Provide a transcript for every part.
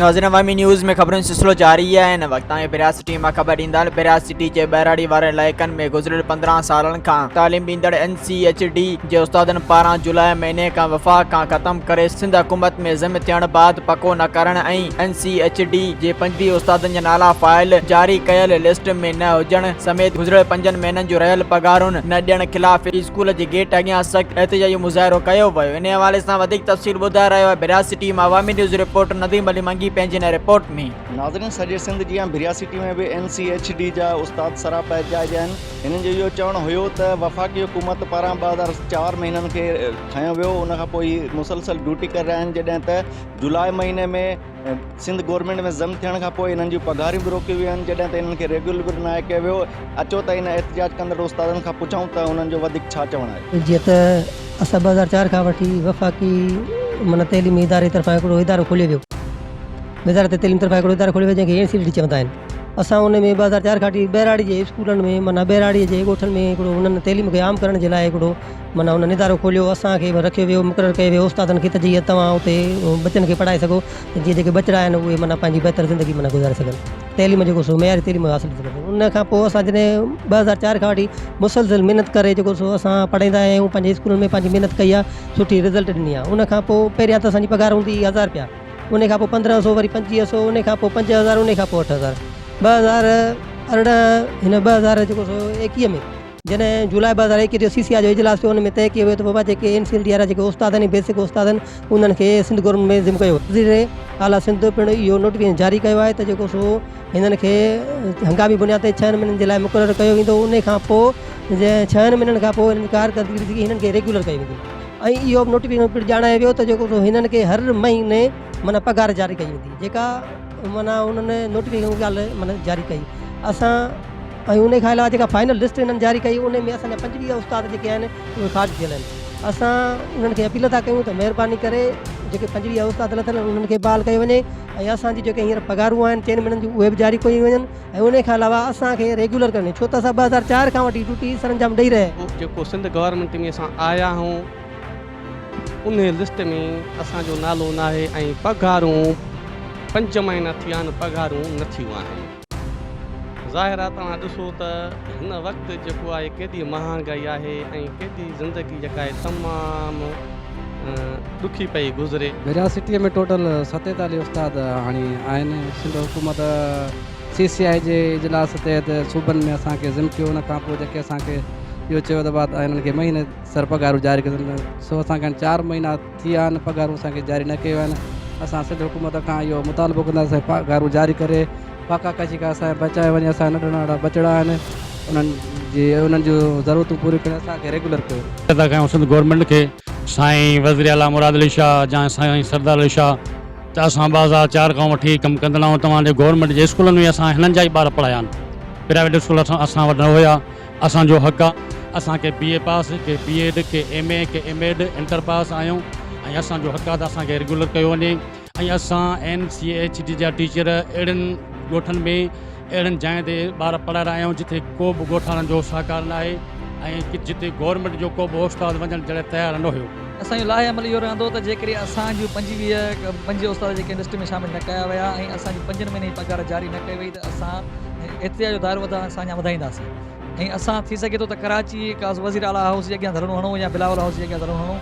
ناظرين عوامي نيوز ۾ خبرن سلسلو جاري آهي هن وقت تائين پيراج سٽي مان خبر ڏيندڙ پيراج سٽي جي ٻهراڙي وارن علائقن ۾ گذريل پندرهن سالن کان تعليم ڏيندڙ اين سي ايڇ ڊي جي استادن پاران جولاء مهيني کان وفاق کان ختم ڪري سنڌ حڪومت ۾ ضم ٿيڻ بعد پڪو نه ڪرڻ ۽ سي ايڇ ڊي جي پنجبي استادن جا نالا فائل جاري ڪيل لسٽ ۾ نه هجڻ سميت گذريل پنجن مهينن جون رهيل پگهارون نه ڏيڻ خلاف اسڪول جي گيٽ اڳيان سخت احتجاجي مظاهرو ڪيو ويو انهي حوالي سان وڌيڪ تفصيل ٻڌائي رهيو آهي ڀرياسي ٽي مان عوامي نيوز رپورٽر نديم علي منگي پنهنجي هن رپورٽ ۾. ناظرين سڄي سنڌ جيان ڀرياسي ٽي ۾ به اين سي ايڇ ڊي جا استاد سراپا احتجاج آهن هنن جو اهو چوڻ هيو ته وفاقي حڪومت پاران ٻه هزار چار ۾ هنن کي کنيو ويو ان کان پوء هي مسلسل ڊيوٽي ڪري رهيا آهن جڏهن ته جولاء مهيني ۾ سنڌ گورنمينٽ ۾ ضم ٿيڻ کان پوء انهن جون پگهاريون به روڪيون ويون آهن جڏهن ته انهن کي ريگيولر به ناهي ڪيو ويو اچو ته انهن احتجاج ڪندڙ استادن کان پڇون ته انهن جو وڌيڪ ڇا چوڻ آهي. جيئن ته اسان ٻه هزار چار کان وٺي وفاقي معنيٰ تعليمي اداري طرفان هڪڙو ادارو کوليو ويو وزارت تعليم طرفان هڪڙو ادارو کوليو ويو جنهن کي اين سي ڊي ٽي چوندا آهن اسان ان ۾ ٻه هزار چار کان وٺي ٻهراڙي جي اسڪولن ۾ معنيٰ ٻهراڙي جي ڳوٺن ۾ هڪڙو انهن تعليم کي عام ڪرڻ جي لاء هڪڙو من هن ندارو کوليو اسان کي به رکيو ويو مقرر ڪيو ويو استادن کي ته جيئن توهان اتي ٻچن کي پڙهائي سگهو ته جيئن جيڪي ٻچڙا آهن اهي معنيٰ پنهنجي بهتر زندگي معنيٰ گذاري سگهن تعليم جيڪو سو معياري تعليم حاصل ڪري سگهن ان کان پوء اسان جڏهن ٻه هزار چار کان وٺي مسلسل محنت ڪري جيڪو سو اسان پڙهائيندا آيا آهيون پنهنجي اسڪولن ۾ پنهنجي محنت ڪئي آهي سٺي رزلٽ ڏني آهي ان کان پوء پهريان ته اسانجي پگهار هوندي هئي هزار رپيا ان کان پوء پندرهن سو وري پنجويهه سو ان کان پوء پنج هزار ان کان پوء اٺ هزار ٻه هزار ارڙهن هن ٻه هزار جيڪو سو ايڪيهه ۾ جڏهن جولاء ٻه هزار ايڪيهه جو سي سي آء جو اجلاس ٿيو ان ۾ طئي ڪيو ويو ته وفا جي ڪي M C L D R I جي ڪي استاد آهن ۽ بيسڪ استاد آهن انهن کي سنڌ گورنمينٽ ۾ ضم ڪيو وزير اعليٰ سنڌ پڻ اهو نوٽيفڪيشن جاري ڪيو آهي ته جيڪو سو هنن کي هنگامي بنياد تي ڇهن مهينن جي لاء مقرر ڪيو ويندو انهي کان پوء ڇهن مهينن کان پوء انهن جي ڪارڪردگي ڏسي هنن کي ريگيولر ڪيو ويندو ۽ اهو به نوٽيفڪيشن پڻ ڄاڻايو ويو ته جيڪو سو هنن کي هر مهيني معنيٰ پگهار جاري ڪئي ويندي جيڪا معنيٰ انهن نوٽيفڪيشن ڳالهه معنيٰ جاري ڪئي اسان ۽ انهي کان علاوه جيڪا فائنل لسٽ هنن جاري ڪئي انهي ۾ اسان جا پنجويهه استاد جيڪي آهن اهي خارج ٿيل آهن اسان انهن کي اپيل ٿا ڪيون ته مهرباني ڪري جيڪي پنجويهه استاد لٿل آهن انهن کي بحال ڪيو وڃي ۽ اسان جي جيڪي هينئر پگهارون آهن چئن مهينن جون اهي به جاري ڪيون وڃن ۽ انهي کان علاوه اسان کي ريگيولر ڪرڻي ڇو ته اسان ٻه هزار چار کان وٺي ڊيوٽي سرانجام ڏئي رهيا آهيون. جيڪو سنڌ گورنمينٽ ۾ اسان آيا آهون انهي لسٽ ۾ اسان جو نالو ناهي ۽ پگهارون پنج مهينا ٿيا آهن پگهارون نه ٿيون آهن. ظاهر آهي توهان ڏسو ته هن وقت جيڪو آهي ڪيڏي مهانگائي آهي ۽ ڪيڏي زندگي جيڪا آهي تمام ڏکي پئي گذري. يونيورسٽيء ۾ ٽوٽل ستيتاليهه استاد هاڻي آهن. سنڌ حڪومت سي سي آء جي اجلاس تحت صوبن ۾ اسان کي ضم ڪيو ان کان پوء جيڪي اسان کي اهو چيو ته وات آهي انهن کي مهيني سر پگهارون جاري ڪيون وينديون سو اسان کي هاڻي چار مهينا ٿي آهن پگهارون اسان کي جاري نه ڪيو آهن اسان سنڌ حڪومت کان اهو مطالبو ڪنداسين پگهارون جاري ڪري پاڪا ڪشي کان اسان کي بچائي وڃي اسان جا ننڍڙا ننڍڙا ٻچڙا آهن انهن جي انهن جون ضرورتون پوريون ڪري اسان کي ريگيولر ڪيو. اميد ٿا ڪيون سنڌ گورنمينٽ کي سائين وزير اعليٰ مراد علي شاهه جا سائين سردار علي شاهه ته اسان ٻه هزار چار کان وٺي ڪم ڪندڙ آهيون توهان جي گورنمينٽ جي اسڪولن ۾ اسان هنن جا ئي ٻار پڙهايا آهن پرائيويٽ اسڪول اسان وٽ نه هيا اسان جو حق آ اسان ڪي بي اي پاس ڪي بي ايڊ ڪي ايم اي ڪي ايم ايڊ انٽر پاس آهيون ۽ اسان جو حق آ ته اسان کي ريگيولر ڪيو وڃي ۽ اسان اين سي ايڇ ڊي جا ٽيچر اهڙن ڳوٺن ۾ اهڙن جاين تي ٻار پڙهائي رهيا آهيون جتي ڪو به ڳوٺاڻن جو سهڪار ناهي ۽ جتي گورنمينٽ جو ڪو به استاد وڃڻ جي لاء تيار نه هيو. اسان جو لاهي عمل اهو رهندو ته جيڪڏهن اسان جون پنجويهه پنجويهه استاد جيڪي لسٽ ۾ شامل نه ڪيا ويا ۽ اسان جي پنجن مهينن جي پگهار جاري نه ڪئي وئي ته اسان احتجاج جو دائرو وڌائڻ سان اڃا وڌائينداسين ۽ اسان ٿي سگهي ٿو ته ڪراچي ڪا وزير اعليٰ هائوس جي اڳيان ڌرڻو هڻون يا بلاول هائوس جي اڳيان ڌرڻو هڻون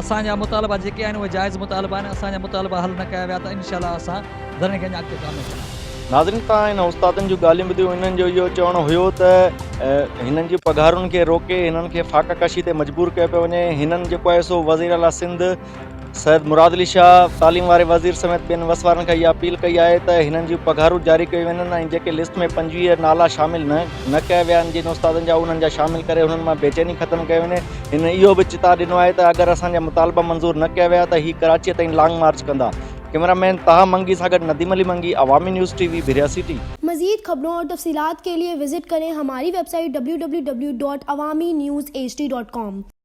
اسان جا مطالبا جيڪي آهن اهي جائز مطالبا آهن اسان جا مطالبا حل نه ڪيا ويا ته انشاء الله اسان ڌرڻي کي اڃا اڳتي ڪامياب ڪنداسين. ناظرين تان هن استادن جون ڳالهيون ٻڌيون هنن جو اهو چوڻ هيو ته هنن جي پگهارن کي روڪي هنن کي فاقه ڪشي تي مجبور ڪيو پيو وڃي هنن جيڪو آهي سو وزير اعليٰ سنڌ سيد مراد علي شاهه تعليم واري وزير سميت ٻين وسوارن کي اها اپيل ڪئي آهي ته هنن جون پگهارون جاري ڪيون وڃن ۽ جيڪي لسٽ ۾ پنجويهه نالا شامل نه نه ڪيا ويا آهن جن استادن جا انهن جا شامل ڪري انهن مان بيچيني ختم ڪئي وڃي هن اهو به چتاء ڏنو آهي ته اگر اسان جا مطالبا منظور نه ڪيا ويا ته هي ڪراچي تائين لانگ مارچ ڪندا ڪئميرا مين طه منگي سان گڏ Nadeem Ali Mangi Awami news T V Bahria city. مزيد خبرون اور تفصيلات کے لئے وزٹ کریں ہماری ویب سائٹ www.awaminews hd.com.